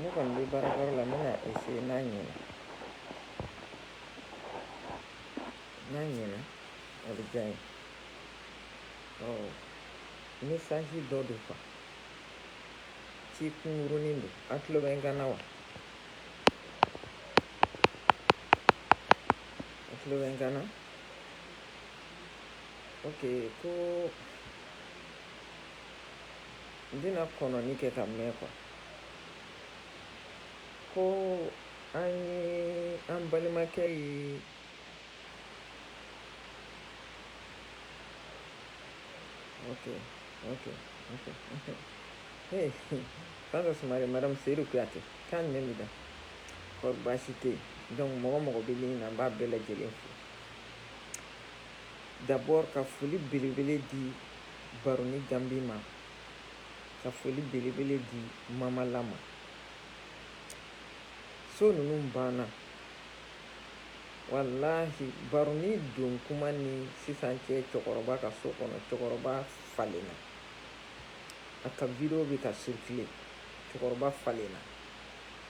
Ne kɔni bɛ baarakɔrɔ la ne e se n'a ɲɛ n'a ɲɛ a bɛ diya ye ne sanji dɔ de faga ci kunurun don a tulolo bɛ gana wa a tulolo bɛ gana o ko n bɛna kɔnɔni kɛ ka mɛn kɔ ko an ye an balimakɛ ye fanta sumare madame seyidu kuyate kan jumɛn b'i da kɔri baasi tɛ yen donc mɔgɔ mɔgɔ bɛ ligne na n b'a bɛɛ lajɛlen fo D'abord ka foli belebele di baroni gambi ma ka foli belebele di mama la ma so ninnu banna walahi baroni don kuma ni sisan cɛ cɛkɔrɔba ka so kɔnɔ cɛkɔrɔba falenna a ka video bɛ ka circuler cɛkɔrɔba falenna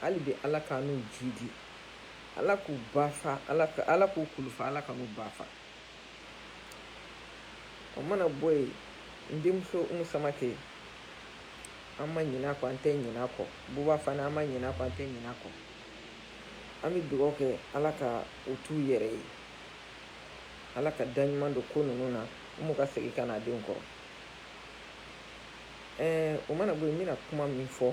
hali bi ala ka n'u jidi ala k'u ba fa ala k'u kulufa ala ka n'u ba fa o mana bɔ yen n denmuso umu samakɛ an ma ɲin'a kɔ an tɛ ɲin'a kɔ buba fana an ma ɲin'a kɔ an tɛ ɲin'a kɔ an bɛ dugawu kɛ ala ka u t'u yɛrɛ ye ala ka da ɲuman don ko ninnu na umu ka segin ka n'a denw kɔrɔ ɛɛ o mana bɔ yen n bɛna kuma min fɔ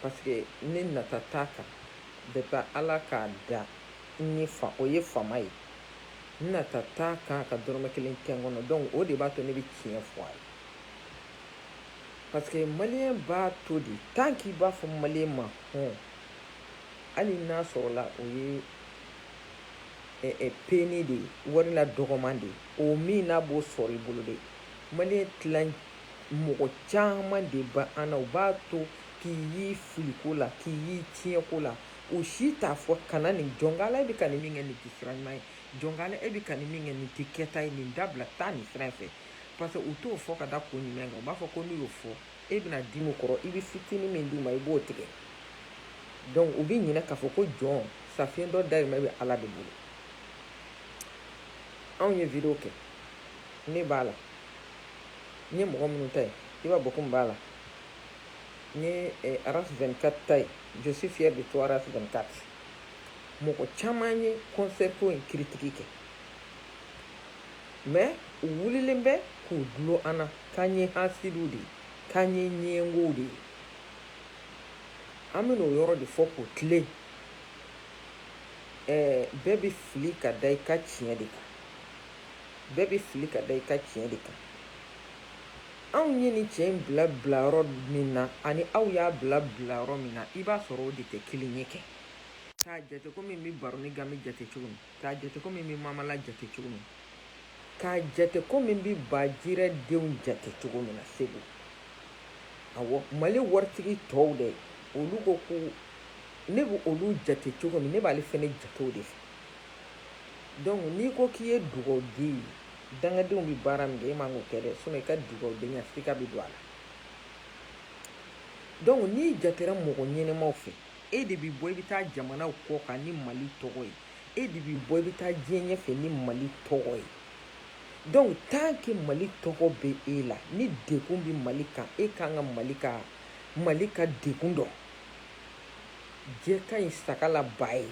Parce que ne nata t'a kan depuis ala k'a da o ye faama ye n nata t'a kan ka dɔrɔmɛ kelen kɛ n kɔnɔ donc o de b'a to ne bɛ tiɲɛ fɔ a ye parce que maliyɛn b'a to de tant k'i b'a fɔ maliyɛn ma hɔn hali n'a sɔrɔla o ye peni de ye wari la dɔgɔman de ye o min n'a b'o sɔrɔ i bolo de maliyɛn tilan mɔgɔ caman de b'an na u b'a to k'i y'i fili ko la k'i y'i tiɲɛ ko la o si t'a fɔ kana nin jɔnkala e bɛ ka nin min kɛ nin tɛ sira ɲuman ye jɔnkala e bɛ ka nin min kɛ nin tɛ kɛta ye nin dabila taa nin sira fɛ parce que u t'o fɔ ka da ko ɲuman kan u b'a fɔ ko n'u y'o fɔ e bɛna dimi kɔrɔ i bɛ fitinin min d'u ma i b'o tigɛ donc u bɛ ɲinɛ k'a fɔ ko jɔn safiɲɛ dɔ dayirimɛ bɛ ala de bolo anw ye video kɛ ne b'a la n ye mɔgɔ minnu ta ye i b'a bɔ ko b'a la n ye eh, aras 24 ta ye je suis fier de toi aras 24 mɔgɔ caman ye concert ko in critique kɛ mais u wulilen bɛ k'u dulon an na k'an ye hasidiw de ye k'an ye ɲɛngow de ye an bɛna o yɔrɔ de fɔ k'o tilen ɛɛ eh, bɛɛ bɛ fili ka da i ka tiɲɛ de kan bɛɛ bɛ fili ka da i ka tiɲɛ de kan anw ye nin cɛ in bila bila yɔrɔ min na ani aw y'a bila bila yɔrɔ min na i b'a sɔrɔ o de tɛ kelen ye kɛ k'a jate komi n bɛ baroni gami jate cogo min k'a jate komi n bɛ mamala jate cogo min k'a jate komi n bɛ bajirɛ denw jate cogo min na segu awɔ mali waritigi tɔw dɛ olu ko ko ne bɛ olu jate cogo min ne b'ale fɛnɛ jate o de fɛ Donc n'i ko k'i ye dugawuden ye dangadenw bɛ baara min kɛ e man k'o kɛ dɛ sinon i ka dugawudenya sika bɛ don a la donc n'i jatera mɔgɔ ɲɛnɛmaw fɛ e de bɛ bɔ i bɛ taa jamanaw kɔ kan ni Mali tɔgɔ ye e de bɛ bɔ i bɛ taa diɲɛ ɲɛfɛ ni Mali tɔgɔ ye donc tant que Mali tɔgɔ bɛ e la ni degun bɛ Mali kan e ka kan ka Mali ka degun dɔn jɛ ka ɲi saga la ba ye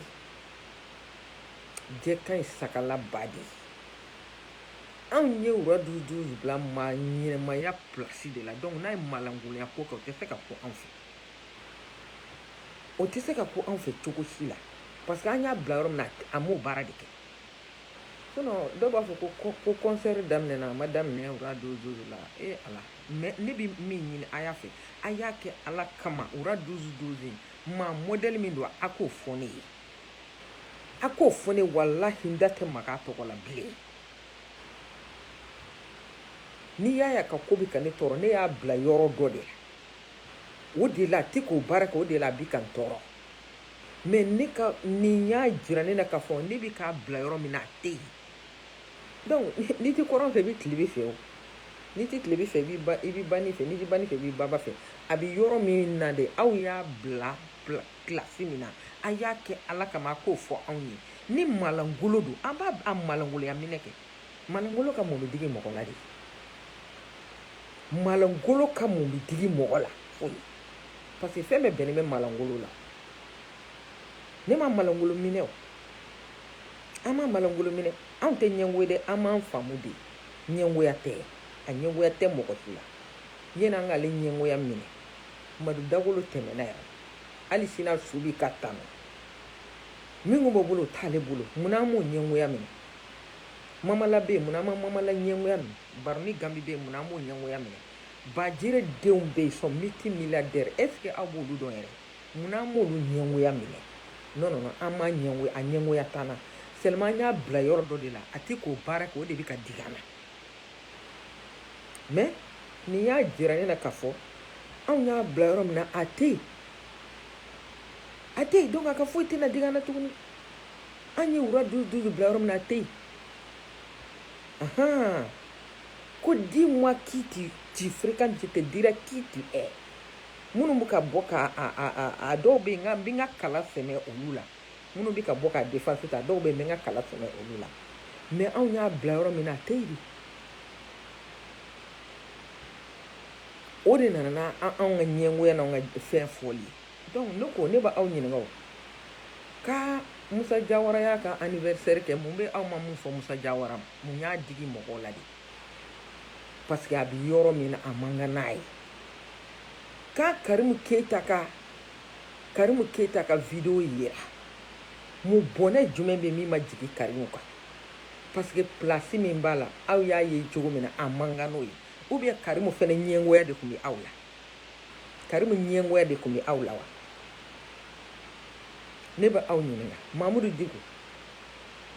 jɛ ka ɲi saga la ba de ye anw ye Roi 12 12 bila maa ɲɛnɛmaya pilasi de la donc n'a ye malankolonya ko kɛ o tɛ se ka ko anw fɛ o tɛ se ka ko anw fɛ cogo si la parce que an y'a bila yɔrɔ min na a m'o baara de kɛ sinon dɔw b'a fɔ ko concert daminɛna a ma daminɛ Roi 12 12 la e ala mais ne bɛ min ɲini a y'a fɛ a y'a kɛ ala kama Roi 12 12 in maa mɔdɛli min don a k'o fɔ ne ye a k'o fɔ ne walahi n da tɛ maga a tɔgɔ la bilen n'i y'a ye a ka ko bɛ ka ne tɔɔrɔ ne y'a bila yɔrɔ dɔ de la o de la a tɛ k'o baara kɛ o de la a bɛ ka n tɔɔrɔ mais nin y'a jira ne na k'a fɔ ne bɛ k'a bila yɔrɔ min na a tɛ yen Donc n'i tɛ kɔrɔn fɛ i bɛ tilebin fɛ o n'i tɛ tilebin fɛ i bɛ banin fɛ n'i tɛ banin fɛ i bɛ baba fɛ a bɛ yɔrɔ min na de aw y'a bila kilasi min na a y'a kɛ ala kama a k'o fɔ anw ye ni malankolon don an b'a malankolonya minɛ kɛ malankolon ka mun bɛ digi mɔgɔ la de malankolon ka mun bɛ digi mɔgɔ la parce que fɛn bɛɛ bɛnnen bɛ malankolon la ne ma malankolon minɛ an ma malangolo minɛ anw tɛ ɲɛngo ye de aw m'an faamu de ɲɛngoya tɛ a ɲɛngoya tɛ mɔgɔ si la yanni an k'ale ɲɛngoya minɛ madu dagolo tɛmɛna yan hali sina su bi ka tanu min kun b'o bolo o t'ale bolo munna an m'o ɲɛngoya minɛ mamala bɛ yen munna an ma mamala ɲɛngoya minɛ baroni gambi bɛ yen munna an m'o ɲɛngoya minɛ bajire denw bɛ yen sont multimilliardaires est-ce que aw b'olu dɔn yɛrɛ Munna an m'olu ɲɛngoya minɛ non non non an m'a ɲɛngoya a ɲɛngoya t'an na seulement an y'a bila yɔrɔ dɔ de la a tɛ k'o baara kɛ o de bɛ ka digi an na mais n'i y'a jira ne na k'a fɔ anw y'a bila yɔrɔ min na a tɛ yen a tɛ yen donc a ka foyi tɛna digi an na tuguni an ye roi douze douze bila yɔrɔ min na a tɛ yen ahan ko dis-moi qui tu tu fréquentes je te dirai qui tu es minnu bɛ ka bɔ ka a dɔw bɛ yen n bɛ n ka kala sɛmɛ olu la minnu bɛ ka bɔ k'a défense ta dɔw bɛ yen n bɛ n ka kala sɛmɛ olu la mais anw y'a bila yɔrɔ min na a tɛ yen o de nana n'anw ka ɲɛngoya n'anw ka fɛn fɔli ye donc ne ko ne bɛ aw ɲininka o ka musa jawara y'a ka anniversaire kɛ mun bɛ aw ma min fɔ musa jawara ma mun y'a digi mɔgɔw la de parce que a bɛ yɔrɔ min na a man kan n'a ye ka karimu keyita ka karimu keyita ka video yira mun bɔnɛ jumɛn bɛ min ma jigin karimu kan parce que place min b'a la aw y'a ye cogo min na a man kan n'o ye ou bien karimu fɛnɛ ɲɛngoya de tun bɛ aw la karimu ɲɛngoya de tun bɛ aw la wa ne bɛ aw ɲininka mamudu diko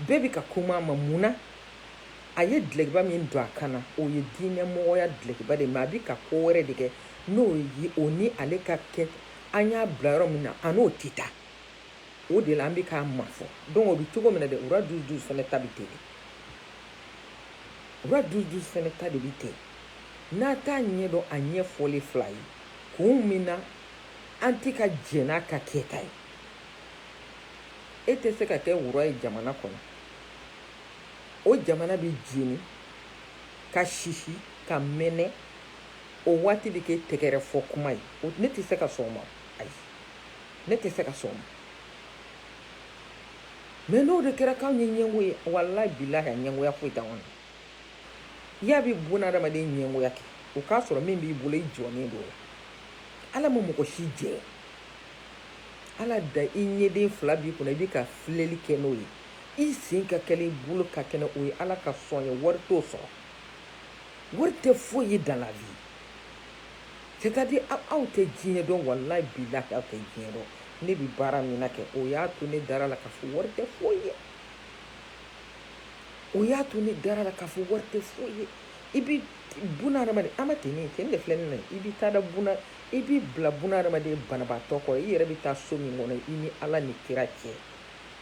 bɛɛ bɛ ka kuma a ma mun na a ye dlɛkiba min don a kan na o ye diinɛmɔgɔya dlɛkiba de mais a bɛ ka ko wɛrɛ de kɛ n'o ye o ni ale ka kɛ an y'a bila yɔrɔ min na a n'o tɛ taa o de la an bɛ k'a mafɔ donc o bɛ cogo min na dɛ roi douze douze fɛnɛ ta bɛ ten de roi douze douze fɛnɛ ta de bɛ ten n'a t'a ɲɛ dɔn a ɲɛfɔlen filɛ a ye kun min na an tɛ ka jɛn n'a ka kɛta ye e tɛ se ka kɛ roi ye jamana kɔnɔ o jamana bɛ jeni ka sisi ka mɛnɛ o waati bɛ kɛ tɛgɛrɛ fɔ kuma ye ne tɛ se ka sɔn o ma ayi ne tɛ se ka sɔn o ma mais n'o de kɛra k'anw ye ɲɛngo ye walahi bilahi a ɲɛngoya foyi t'an kɔnɔ y'a bɛ bunadamaden ɲɛngoya kɛ o k'a sɔrɔ min b'i bolo i jɔnnen don o la ala ma mɔgɔ si jɛ ala da i ɲɛden fila b'i kunna i bɛ ka filɛli kɛ n'o ye i sen ka kɛnɛ i bolo ka kɛnɛ o ye ala ka sɔn ye wari t'o sɔrɔ wari tɛ foyi ye dans la vie c'est à dire aw tɛ diɲɛ dɔn walayi bilahi aw tɛ diɲɛ dɔn ne bi baara min na kɛ o y'a to ne dara la k'a fɔ wari tɛ foyi ye o y'a to ne dara la k'a fɔ wari tɛ foyi ye i bi buna adamaden an ma ten ne ten de filɛ ne na i bi taa da buna i b'i bila buna adamaden banabaatɔ kɔrɔ i yɛrɛ bi taa so min kɔnɔ i ni ala ni kira cɛ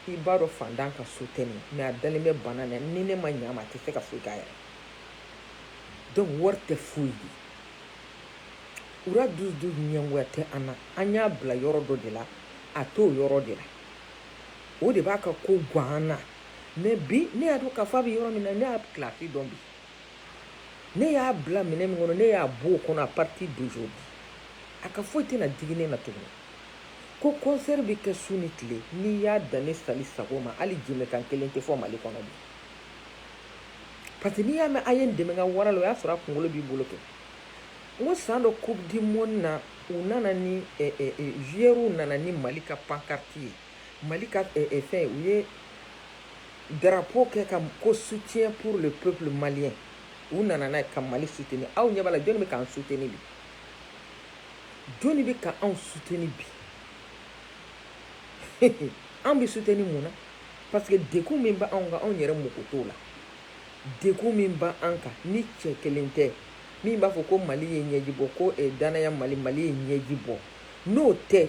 i b'a dɔn fantan ka so tɛ nin mais a dalen bɛ bana na ni ne ma ɲa ma a tɛ se ka foyi k'a yɛrɛ donc wari tɛ foyi ye ura dusu du ɲɛngoya tɛ an na an y'a bila yɔrɔ dɔ de la a t'o yɔrɔ de la o de b'a ka ko gan an na mais bi ne y'a dɔn k'a fɔ a bɛ yɔrɔ min na ne y'a kilasi dɔn bi ne y'a bila minɛn min kɔnɔ ne y'a b'o kɔnɔ à partir d'aujourd'hui a ka foyi tɛna digi ne na tuguni ko concert bɛ kɛ su ni tile n'i y'a dan ne sali sago ma hali jɛmɛkan kelen tɛ fɔ mali kɔnɔ bi parce que n'i y'a mɛn a ye n dɛmɛ ka wara la o y'a sɔrɔ a kunkolo b'i bolo kɛ n ko san dɔ coupe du monde na u nana ni eh, eh, eh, joueurs nana ni mali ka pancarte ye mali ka eh, eh, fɛn u ye drapeau kɛ ka ko soutien pour le peuple malien u nana n'a ye ka mali soutenir aw ɲɛ b'a la jɔni bɛ k'an soutenir bi jɔnni bɛ ka anw soutenir bi an bɛ soutenir mun na parce que degun min bɛ anw kan anw yɛrɛ mako t'o la degun min bɛ an kan ni cɛ kelen tɛ min b'a fɔ ko mali ye ɲɛji bɔ ko eh, danaya mali mali ye ɲɛji bɔ n'o tɛ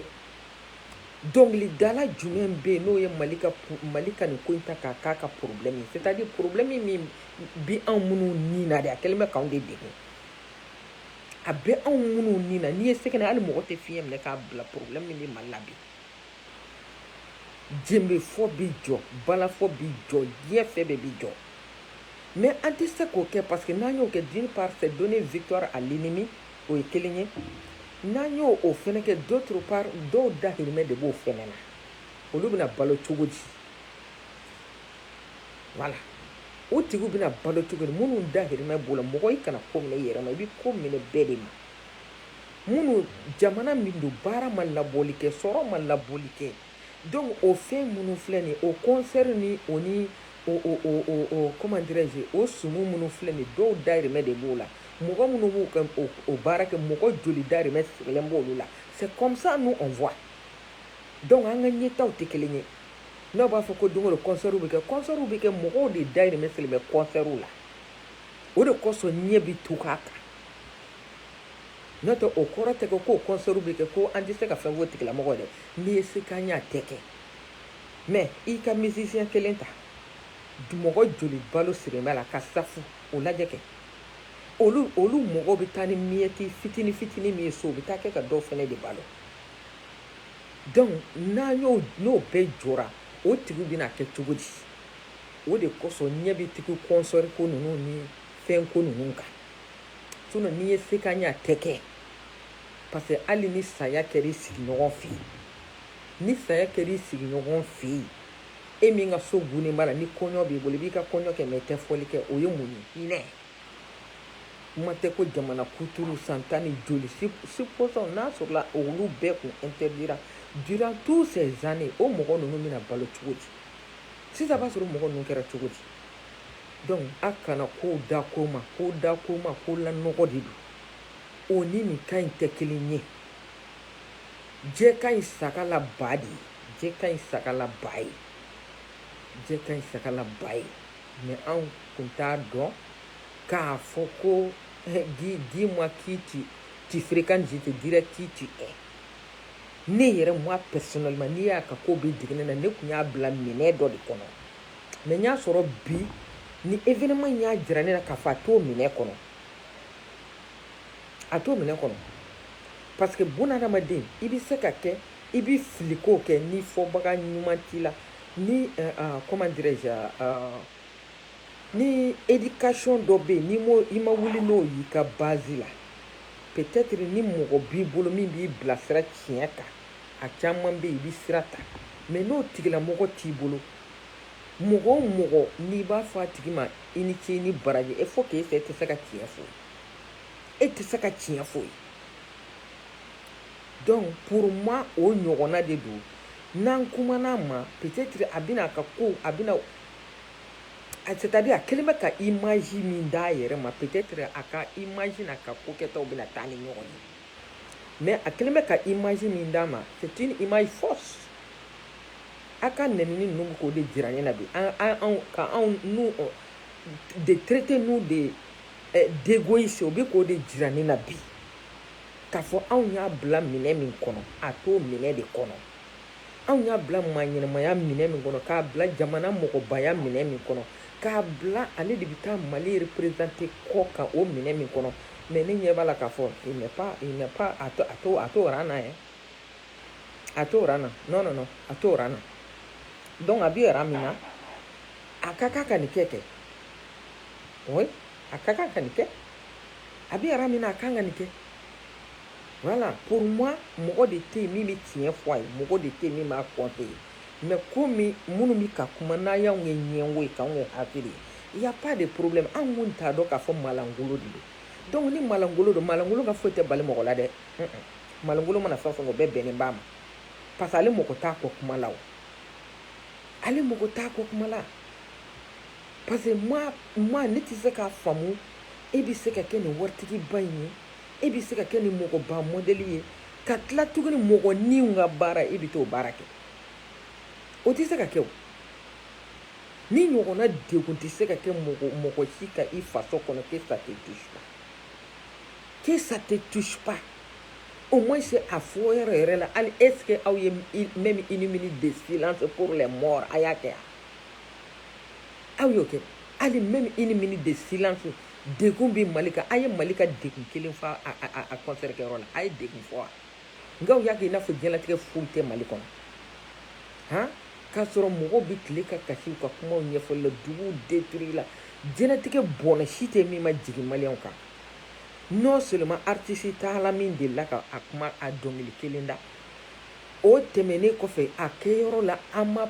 dɔnkilidala jumɛn bɛ yen n'o ye mali ka mali ka nin ko in ta k'a k'a ka problème ye c'est à dire problème min bi anw minnu ni na de a kɛlen bɛ k'anw de degun a bɛ anw minnu ni na n'i ye sɛgɛn hali mɔgɔ tɛ fiɲɛ minɛ k'a bila problème min bɛ mali la bi jenbefɔ bɛ jɔ balafɔ bɛ jɔ diɲɛ fɛn bɛɛ bɛ jɔ mais an tɛ se k'o kɛ parce que n'an y'o kɛ d'une part c'est donner victoire à l'ennemi o ye kelen ye n'an y'o o fɛnɛ kɛ d'autre part dɔw dahirimɛ de b'o fɛnɛ na olu bɛna balo cogo di voilà o tigiw bɛna balo cogo di minnu dahirimɛ b'o la mɔgɔ i kana ko minɛ i yɛrɛ ma i bɛ ko minɛ bɛɛ de ma minnu jamana min don baara ma labɔli kɛ sɔrɔ ma labɔli kɛ donc o fɛn minnu filɛ nin o concert ni o ni comment dirais-je o sumu minnu filɛ nin dɔw dahirimɛ de b'o la mɔgɔ minnu b'u ka o baara kɛ mɔgɔ joli dahirimɛ sigilen b'o la c'est comme ça nous on voit donc an ka ɲɛta tɛ kelen ye n'aw b'a fɔ ko don o don concert bɛ kɛ concert bɛ kɛ mɔgɔw de dahirimɛ sirilen bɛ concert la o de kosɔn ɲɛ bɛ tugu a kan n'o tɛ o kɔrɔ tɛ ko k'o concert bɛ kɛ ko an tɛ se ka fɛn fɔ tigilamɔgɔ dɛ n'i ye se k'an y'a tɛ kɛ mais i ka musicien kelen ta mɔgɔ joli balo sirilen b'a la ka safu o lajɛ kɛ olu olu mɔgɔw bɛ taa ni miyɛti fitini fitini min ye so u bɛ t'a kɛ ka dɔw fɛnɛ de balo Donc n'a y'o n'o bɛɛ jɔra o tigiw bɛna kɛ cogo di o de kosɔn ɲɛ bɛ tugu concert ko ninnu ni fɛn ko ninnu kan sinon n'i ye se k'an y'a tɛ kɛ parce que hali ni saya kɛra i sigiɲɔgɔn fɛ yen ni saya kɛra i sigiɲɔgɔn fɛ yen e min ka so tugunnen b'a la ni kɔɲɔ b'i bolo i b'i ka kɔɲɔ kɛ mais i tɛ fɔli kɛ o ye mun ye Kuma tɛ ko jamana kuturu san tan ni joli supposons n'a sɔrɔla olu bɛɛ kun interdira durant tous ces années o mɔgɔ ninnu bɛna balo cogo di sisan b'a sɔrɔ mɔgɔ ninnu kɛra cogo di donc a kana ko da ko ma ko da ko ma ko lanɔgɔ de don o ni nin ka ɲi tɛ kelen ye jɛ ka ɲi sagala ba de ye jɛ ka ɲi sagala ba ye jɛ ka ɲi sagala ba ye mais anw kun t'a dɔn k'a fɔ ko dis-moi qui tu fréquentes je te dirai qui tu es ne yɛrɛ moi personnellement n'i y'a ka ko bɛ digi ne na ne kun y'a bila minɛ dɔ de kɔnɔ mais n y'a sɔrɔ bi ni événement in y'a jira ne na k'a fɔ a t'o minɛ kɔnɔ a t'o minɛ kɔnɔ parce que bunadamaden i bɛ se ka kɛ i bɛ fili ko kɛ ni fɔbaga ɲuman t'i la Ni comment dirais-je ni éducation dɔ bɛ yen ni i ma wuli n'o y'i ka base la peut-être ni mɔgɔ b'i bolo min b'i bilasira tiɲɛ kan a caman bɛ i bɛ sira ta mais n'o tigilamɔgɔ t'i bolo mɔgɔ o mɔgɔ n'i b'a fɔ a tigi ma i ni ce ni baraji il faut que fɛn e tɛ se ka tiɲɛ fɔ e tɛ se ka tiɲɛ fɔ i ye donc pour moi o ɲɔgɔnna de don n'an kumana a ma peut-être a bɛna a ka ko a bɛna c'est-à-dire a kɛlen bɛ ka image min d'a yɛrɛ ma peut-être a ka image n'a ka ko kɛtaw bɛna taa ni ɲɔgɔn ye mais a kɛlen bɛ ka image min d'a ma c'est une image fausse a ka nenini ninnu bɛ k'o de jira ne na bi ka anw nous de traiter nous de d'égoïste o bɛ k'o de jira ne na bi k'a fɔ anw y'a bila minɛ min kɔnɔ a t'o minɛ de kɔnɔ anw y'a bila maa ɲɛnamaya minɛ min kɔnɔ k'a bila jamana mɔgɔbaya minɛ min kɔnɔ k'a bila ale de bɛ taa mali représenter kɔ kan o minɛ min kɔnɔ mais ne ɲɛ b'a la k'a fɔ a t'o ran na ye a t'o ran na non non a t'o ran na donc a bɛ ran min na a ka kan ka nin kɛ kɛ a ka kan ka nin kɛ a bɛ ran min na a kan ka nin kɛ voilà pour moi mɔgɔ de tɛ yen min bɛ tiɲɛ fɔ a ye mɔgɔ de tɛ yen min b'a conseiller mais komi minnu bɛ ka kuma n'a y'anw ye ɲɛngo ye k'anw ye hakili ye il y a pas de problème anw kun t'a dɔn k'a fɔ malangolo de don donc ni malangolo don malangolo ka foyi tɛ bali mɔgɔ la dɛ malangolo mana fɛn o fɛn o bɛɛ bɛnnen b'a ma parce que ale mɔgɔ t'a kɔ kuma la o ale mɔgɔ t'a kɔ kuma la parce que moi ne tɛ se k'a faamu e bɛ se ka kɛ nin waritigiba in ye e bɛ se ka kɛ nin mɔgɔba mɔdɛli ye ka tila tuguni mɔgɔninw ka baara e bɛ t'o baara kɛ o tɛ se ka kɛ o ni ɲɔgɔnna degun tɛ se ka kɛ mɔgɔ si ka i faso kɔnɔ que ça te touche pas que ça te touche pas au moins c'est a fɔyɔrɔ yɛrɛ la hali est ce que aw ye même une minute de silence pour les morts a y'a kɛ wa aw y'o kɛ hali même une minute de silence degun bɛ mali kan a ye mali ka degun kelen fɔ a concert kɛyɔrɔ la a ye degun fɔ wa nka aw y'a kɛ i n'a fɔ diɲɛlatigɛ foyi tɛ mali kɔnɔ han k'a sɔrɔ mɔgɔw bɛ tile ka kasi ka kumaw ɲɛfɔli la duguw détruire la diɲɛlatigɛ bɔnɛ si tɛ min ma jigin maliyɛnw kan non seulement aritisi taala min delila ka a kuma a dɔnkili kelen da o tɛmɛnnen kɔfɛ a kɛyɔrɔ la an ma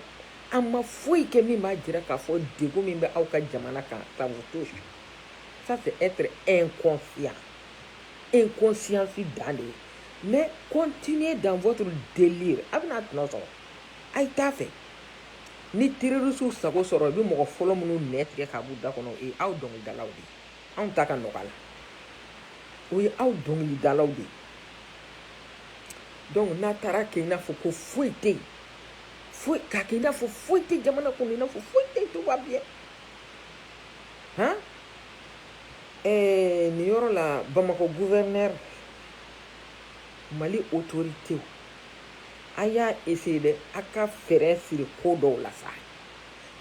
a ma foyi kɛ min b'a jira k'a fɔ degun min bɛ aw ka jamana kan ça vous touche ça c'est être inconscient inconscience dan de ye mais continuez dans votre délire a bɛna a tɔnɔ sɔrɔ a ye t'a fɛ ni terrorisiw sago sɔrɔ i bɛ mɔgɔ fɔlɔ minnu nɛn tigɛ k'a b'u da kɔnɔ o ye aw dɔnkilidalaw de ye anw ta ka nɔgɔ a la o ye aw dɔnkilidalaw de ye donc n'a taara kɛ i n'a fɔ ko foyi tɛ yen foyi k'a kɛ i n'a fɔ foyi tɛ jamana kɔnɔ i n'a fɔ foyi tɛ tout va bien han ɛɛ nin yɔrɔ la bamakɔ gouverneur mali autoritew a y'a essayer dɛ a ka fɛɛrɛ siri ko dɔw la sa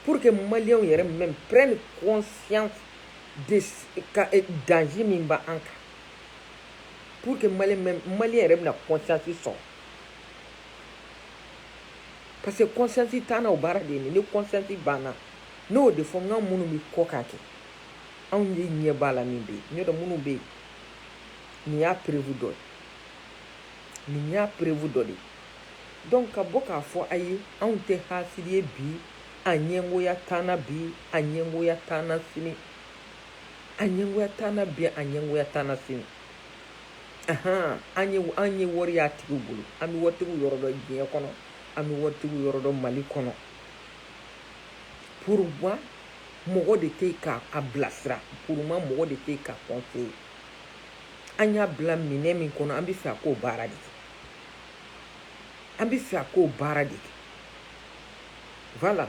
pour que maliyɛnw yɛrɛ même prennent conscience de ka eh, danger min b'an kan pour que maliyɛn même maliyɛn yɛrɛ bɛna conscience sɔrɔ parce que conscience t'an na o baara de ye nin ye ni conscience banna ne y'o de fɔ nka minnu bɛ kɔ k'a kɛ anw de ɲɛ b'a la min bɛ yen n y'o dɔn minnu bɛ yen nin y'a preuve dɔ ye nin y'a preuve dɔ de ye donc ka bɔ k'a fɔ a ye anw tɛ hasidi ye bi a ɲɛngoya t'an na bi a ɲɛngoya t'an na sini a ɲɛngoya t'an na bi a ɲɛngoya t'an na sini an ye an ye wari y'a tigiw bolo an bɛ waritigiw yɔrɔ dɔn diɲɛ kɔnɔ an bɛ waritigiw yɔrɔ dɔn mali kɔnɔ pour moi mɔgɔ de tɛ k'a bilasira pour moi mɔgɔ de tɛ k'a conseiller an y'a bila minɛ min kɔnɔ an bɛ fɛ a k'o baara de kɛ an bɛ fɛ a k'o baara de kɛ voilà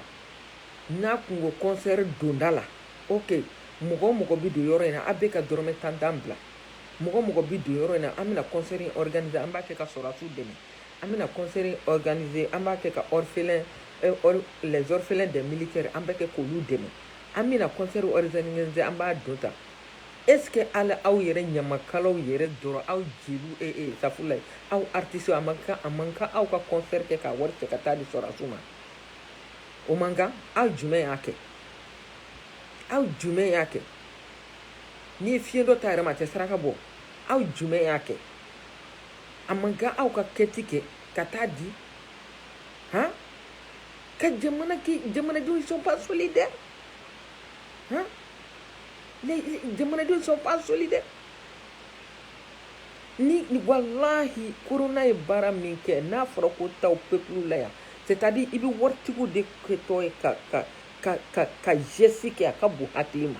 n'a kun ko concert donda la ok mɔgɔ o mɔgɔ bɛ don yɔrɔ in na a bɛ ka dɔrɔmɛ tan tan bila mɔgɔ o mɔgɔ bɛ don yɔrɔ in na an bɛna concert in organiser an b'a kɛ ka sɔrɔdasiw dɛmɛ an bɛna concert in organiser an b'a kɛ ka les orphelins des militaires an bɛ kɛ k'olu dɛmɛ an bɛna concert an b'a don ta est ce que ala aw yɛrɛ ɲamakalaw yɛrɛ dɔrɔn aw jeliw safurulayi aw artistes a man a man kan aw ka concert kɛ ka wari cɛ ka taa di sɔrɔdasiw ma o man kan aw jumɛn y'a kɛ aw jumɛn y'a kɛ n'i ye fiɲɛ dɔ ta yɛrɛ ma a tɛ saraka bɔ aw jumɛn y'a kɛ a man kan aw ka quête kɛ ka taa di han ka jamana jamanadenw sont pas solidaires han les jamanadenw sont pas solidaires ni walahi corona ye baara min kɛ n'a fɔra ko taw peuple la yan c'est à dire i bɛ waritigiw de kɛtɔ ye ka ka ka ka ka geste kɛ a ka bon hakili ma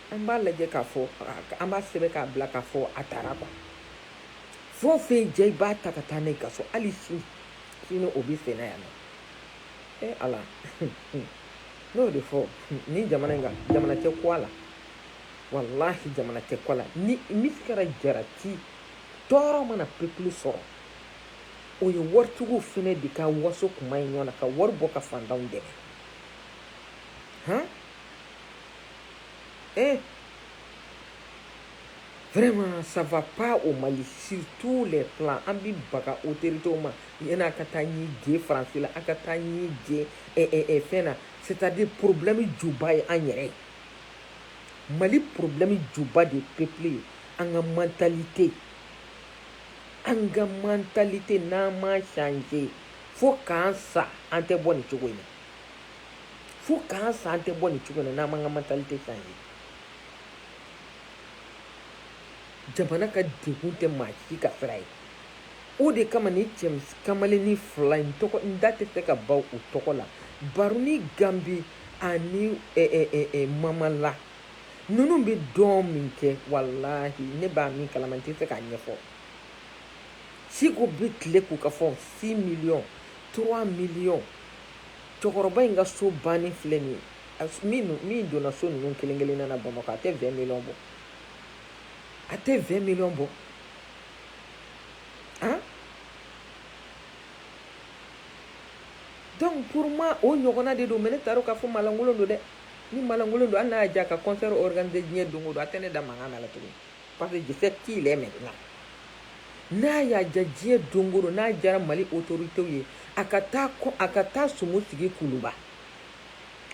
An b'a lajɛ k'a fɔ an b'a sɛbɛn k'a bila k'a fɔ a taara quoi fɛn o fɛn jɛ i b'a ta ka taa n'a y'i ka so hali si sini o bɛ sen na yan e ala n'o de fɔ ni jamana in kan jamana tɛ ko la walahi jamana tɛ ko la ni misikala jarati tɔɔrɔ mana peuple sɔrɔ o ye waritigiw fɛnɛ de ka waso kuma in ɲɔgɔn na ka wari bɔ ka fantanw dɛmɛ eh vraiment ça va pas au Mali sur tous les plans an bɛ baga autorités ma yani a ka taa ɲi je France la a ka taa ɲi je eh, eh, eh, fɛn na c'est à dire problème juba ye an yɛrɛ ye Mali problème juba de peuple ye an ka mentalité an ka mentalité n'an m'a changer fo k'an sa an tɛ bɔ nin cogo in na. fo k'an sa an tɛ bɔ nin cogo in na n'an m'an ka mentalité changer jamana ka degun tɛ maa si ka sira ye o de kama ni cɛ kamalennin fila in tɔgɔ n da tɛ se ka ban u tɔgɔ la baruni gambi ani eh, eh, eh, eh, mamala ninnu bɛ dɔn min kɛ walahi ne b'a min kalama n tɛ se k'a ɲɛfɔ siko bɛ tile k'u ka fɔ 6 miliyɔn 3 miliyɔn cɛkɔrɔba in ka so banni filɛ nin ye min donna so ninnu kelen kelen na bamakɔ a tɛ 20 miliyɔn bɔ a tɛ 20 miliyɔn bɔ han donc pour moi o ɲɔgɔnna de don mais ne t'a dɔn k'a fɔ malankolon don dɛ ni malankolon don hali n'a y'a diya ka concert organiser diɲɛ don o don a tɛ ne da mankan na la tuguni Pa que juru t'i la mɛ na n'a y'a ja diɲɛ donkoro n'a jɛra mali o to to ye a ka taa ko a ka taa sogo tigi kuluba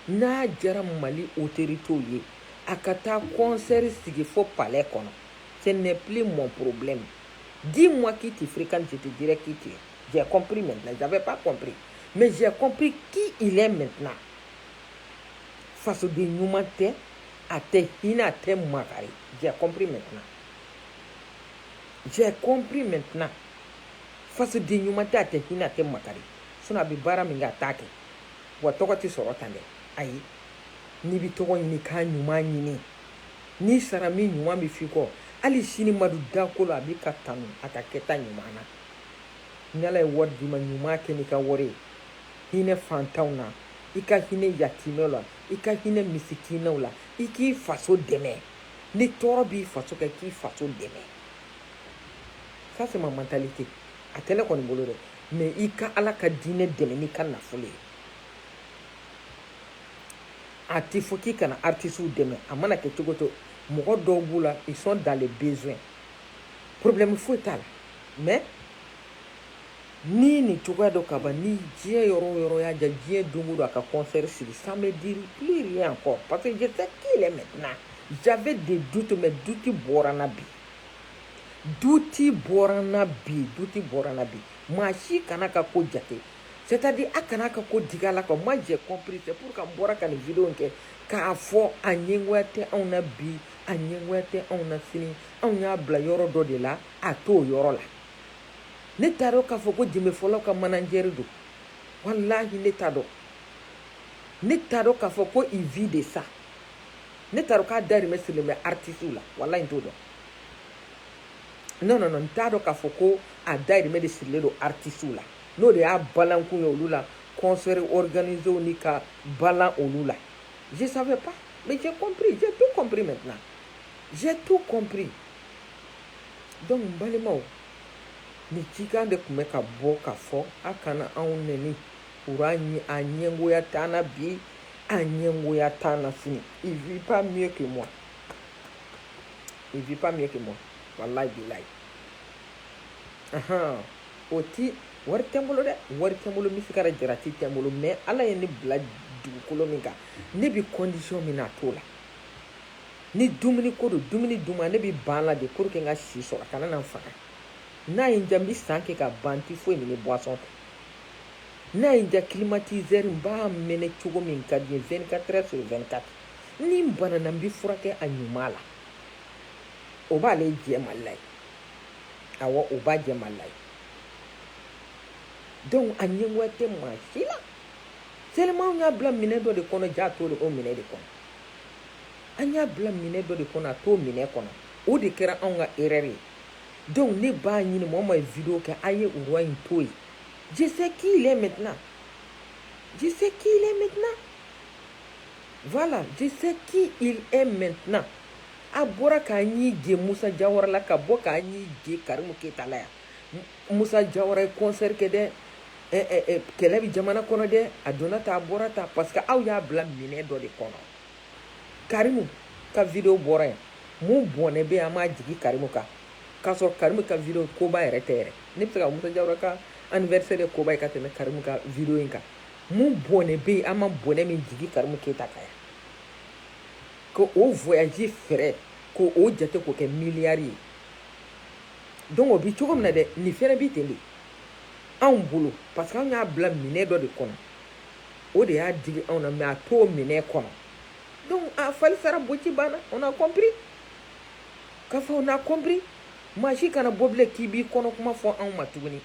n'a jɛra mali o to to ye a ka taa kɔnsɛri sigi fɔ palɛ kɔnɔ sen nep mɔn porobi di ma k'i tɛ firi kan jate di k'i tɛ jɛ copri mɛn ja bɛ ba copri mɛ jɛ copri k'i i la mɛt fasoden ɲuman tɛ a tɛ hinɛ a tɛ makari j'ai compris maintenant j'ai compris maintenant fasoden ɲuman tɛ a tɛ hinɛ a tɛ makari sinon a bɛ baara min kɛ a t'a kɛ wa tɔgɔ tɛ sɔrɔ tan dɛ ayi n'i bɛ tɔgɔ ɲini k'a ɲuman ɲini n'i sara min ɲuman bɛ f'i kɔ hali sini madu dakolo a b'i ka tanu a ka kɛta ɲuman na ni ala ye wari d'i ma ɲuman kɛ n'i ka wari ye hinɛ fantanw na i ka hinɛ yatimɛw la i ka hinɛ misikinɛw la i k'i faso dɛmɛ ni tɔɔrɔ b'i faso kan k'i faso dɛmɛ ça c'est ma mentalité a tɛ ne kɔni bolo dɛ mais i ka ala ka diinɛ dɛmɛ n'i ka nafolo ye a tɛ fɔ k'i kana artisiw dɛmɛ a mana kɛ cogo o cogo mɔgɔ dɔw b'u la ils sont dans les besoins problème foyi t'a la mais Ni nin cogoya dɔ ka ban ni diɲɛ yɔrɔ yɔrɔ y'a ja diɲɛ don don a ka kɔnfɛri siri san bɛ di pli yan kɔ papifej tɛ k'i yɛrɛ mɛn na ja de du tun bɛ duti bɔra na bi duti bɔra na bi duti bɔra na bi maa si kana ka ko jate cɛtadi a kana ka ko digi la ka ma jɛ copri tɛ ka bɔra ka nin vi kɛ k'a fɔ a ɲɛwa tɛ anw na bi a ɲɛ tɛ anw na sini anw y'a bila yɔrɔ dɔ de la a t'o yɔrɔ la ne t'a dɔn k'a fɔ ko jembe fɔlaw ka manajɛri don walahi ne t'a dɔn ne t'a dɔn k'a fɔ ko il vit de ça ne t'a dɔn k'a dayirimɛ sirilen bɛ artisiw la walahi n t'o dɔn non non non n t'a dɔn k'a fɔ ko a dayirimɛ de sirilen don artisiw la n'o de y'a balankun ye olu la concert organisew ni ka balan olu la je savais pas mais j'ai compris j'ai tout compris maintenant j'ai tout compris Dɔnku balimaw ni cikan de tun bɛ ka bɔ ka fɔ aw kana anw n ɲɛ an ɲɛgoya tan bi an ɲɛgoya tan f min kɛ mɔn i bi min kɛ mɔn wala layila aɔn o tɛ wari tɛ bolo dɛ wari tɛ bolo misi se ka jara tɛ tɛɛn bolo mɛ ala ye ne bila dugukolo min kan ne bɛ kɔnsi min na a t'o la ni dumuni ko don dumuni duman ne bɛ ban la de pour que n ka si sɔrɔ a kana na n faga n'a ye n diya n bɛ san kɛ ka ban n tɛ foyi min ni boisson tɛ n'a ye n diya climatiseur n b'a mɛnɛ cogo min ka di n ye 24 heures sur 24 ni n banana n bɛ furakɛ a ɲuman la o b'ale jɛ mali la ye awɔ o b'a jɛ mali la ye donc a ɲɛngoya tɛ maa si la seulement an y'a bila minɛ dɔ de kɔnɔ jaa a t'o minɛ de kɔnɔ an y'a bila minɛ dɔ de kɔnɔ a t'o minɛ kɔnɔ o de kɛra anw ka erreur ye donc ne b'a ɲini mɔgɔ ma ye video kɛ a ye o roi in to yen je sais qui il est maintenant je sais qui il est maintenant voilà je sais qui il est maintenant a bɔra k'a ɲi je Musa Jawara la ka bɔ k'a ɲi je Karimu Keyita la yan Musa Jawara ye concert kɛ dɛ, ɛ ɛ ɛ kɛlɛ bɛ jamana kɔnɔ dɛ, a donna tan a bɔra tan parce que aw y'a bila minɛn dɔ de kɔnɔ. Karimu ka video bɔra yen, mun bɔnɛ bɛ yen an m'a jigi Karimu kan k'a sɔrɔ Karimu ka video koba yɛrɛ tɛ yɛrɛ. Ne bɛ se ka Musa Jawara ka anniversaire ye koba ye ka tɛmɛ Karimu ka video in kan. Mun bɔnɛ bɛ yen an ma bɔnɛ min jigi Karimu Keyita kan yan. Ko o voyage frais ko o jate k'o kɛ milliard ye. Donc o bi cogo min na dɛ nin fɛnɛ bi ten de anw bolo parce que anw y'a bila minɛ dɔ de kɔnɔ o de y'a digi anw na mais a t'o minɛ kɔnɔ donc a fali fara boci banna on a compris k'a fɔ on a compris maa si kana bɔ bilen k'i b'i kɔnɔ kuma fɔ anw ma tuguni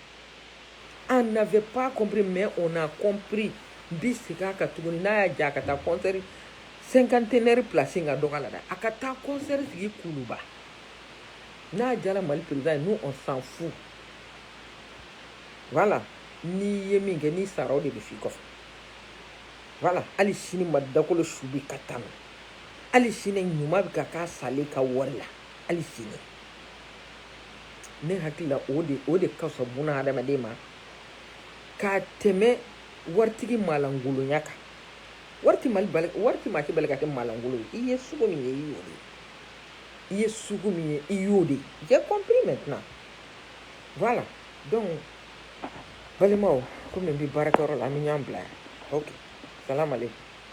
on n'avait pas compris mais on a compris n bi segin a kan tuguni n'a y'a diya a ka taa concert cinquantenaire place in ka dɔgɔ la dɛ a ka taa concert sigi Kuluba n'a diyara mali perezidan ye nous on s'en fout voilà n'i ye min kɛ n'i sara o de bɛ f'i kɔfɛ voilà hali sini madu dakolo su bɛ ka tanu hali sini ɲuman bɛ ka k'a salen ka wari la hali sini ne hakili la o de o de ka fisa buna hadamaden ma ka tɛmɛ waritigi malangolonya kan wari tɛ maa si bali ka kɛ malangolo ye i ye sugu min ye i y'o de ye i ye sugu min ye i y'o de ye kɔnpri mɛn tɛna wala dɔn balimaw kɔmi bɛ baarakɛyɔrɔ la ni y'an bila yan o kala